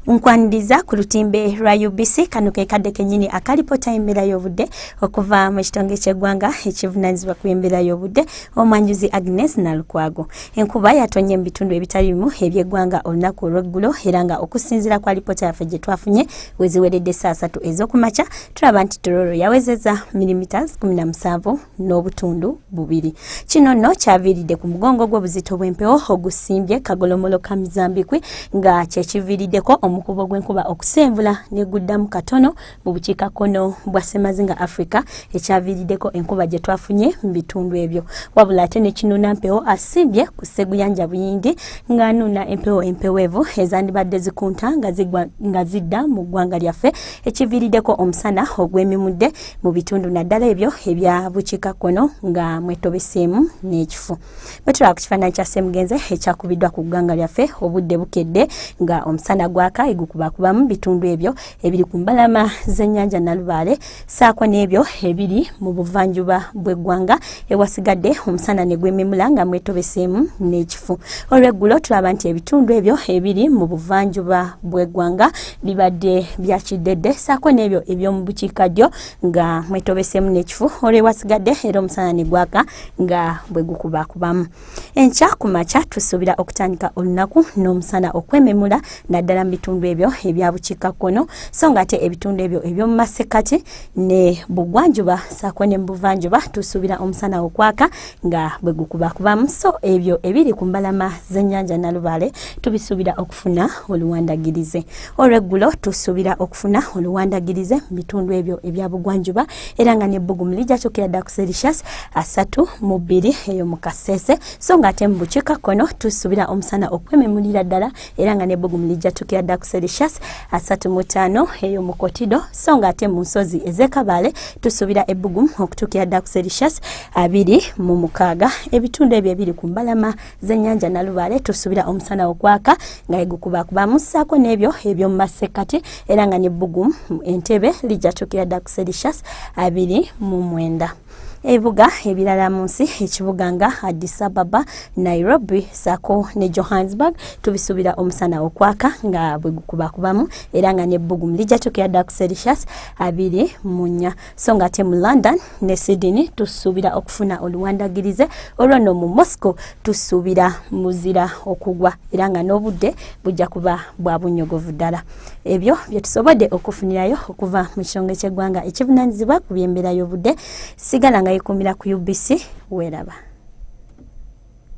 nkwaniriza ku lutimbe lwa UBC kano ke kadde kenyini akalipota embeera y'obudde okuva mu kitonge ky'eggwanga ekivunanyizibwa ku embeera y'obudde omwanjuzi Agnes Nalukwago enkuba yatonye mu bitundu ebitali bimu eby'eggwanga olunaku olw'eggulo era nga okusinziira ku alipota yaffe gye twafunye weziweredde saa satu ez'okumakya tulaba nti tororo yawezeza milimiters kumi na musanvu n'obutundu bubiri kino nno kyaviiridde ku mugongo gw'obuzito bw'empewo ogusimbye kagolomolo ka mizambikwi nga kyekiviiriddeko omukubo gw'enkuba okusenvula neguddamu katono mu bukiika kkono bwa semazinga africa ekyaviiriddeko enkuba gye twafunye mu bitundu ebyo wabula ate ne kinuna mpewo asimbye ku sseguyanja buyingi ng'anuuna empewo empeweevu ezandibadde zikunta nga zidda mu ggwanga lyaffe ekiviiriddeko omusana ogw'emimudde mu bitundu naddala ebyo ebya bukiika kkono nga mwetobeseemu n'ekifu bwetulaba ku kifaananyi kya semugenze ekyakubiddwa ku ggwanga lyaffe obudde bukedde nga omusana gwaka egukubakubamu bitundu ebyo ebiri ku mbalama z'ennyanja nalubaale saako n'ebyo ebiri mu buvanjuba bw'eggwanga ewasigadde omusana ne gwememula nga mwetobeseemu n'ekifu olweggulo tulaba nti ebitundu ebyo ebiri mu buvanjuba bw'eggwanga bibadde bya kiddedde saako n'ebyo eby'omu bukiikaddyo nga mwetobeseemu n'ekifu olwewasigadde era omusana ne gwaka nga bwe gukubakubamu enkya ku makya tusuubira okutandika olunaku n'omusana okwememula naddala mu bitundu ebyo ebya bukiikakkono so nga ate ebitundu ebyo eby'omu masekkati ne bugwanjuba saako ne mu buvanjuba tusuubira omusana okwaka nga bwe gukubakubamu so ebyo ebiri ku mbalama z'ennyanja nalubaale tubisuubira funa oluwandagirize olweggulo tusuubira okufuna oluwandagirize mu bitundu ebyo ebya bugwanjuba era nga nebbugumu lijja kyokera dda ku selicious asatu mu bbiri eyo mu kaseese so nga ate mu bukiika kkono tusuubira omusana okwememulira ddala era nga nebbugumu lijja kyokera dda ku selicious asatu mu ttaano eyo mu kotido so nga ate mu nsozi ez'ekabaale tusuubira ebbugumu okutuukira dda ku selicious abiri mu mukaaga ebitundu ebyo ebiri ku mbalama zenyanja nalubale tusubira omusana ogwaka nga egukubakubamu ssaako n'ebyo ebyomu masekkati era nga ne bbugumu entebe lijja tukira dda ku selicious abiri mu mwenda ebibuga ebirala mu nsi ekibuga nga addis ababa nairobi sako ne johannesburg tubisuubira omusana okwaka nga bwe gukubakubamu era nga n'ebbugumu lijja tukira dda ku selicious abiri mu nnya so nga te mu london ne sydney tusuubira okufuna oluwandagirize olwo no mu moscow tusuubira muzira okugwa era nga n'obudde bujja kuba bwa bunyogovu ddala ebyo bye tusobodde okufunirayo okuva mu kitongole ky'eggwanga ekivunanyizibwa ku by'embeera y'obudde sigala nga yekuumira ku ubc weeraba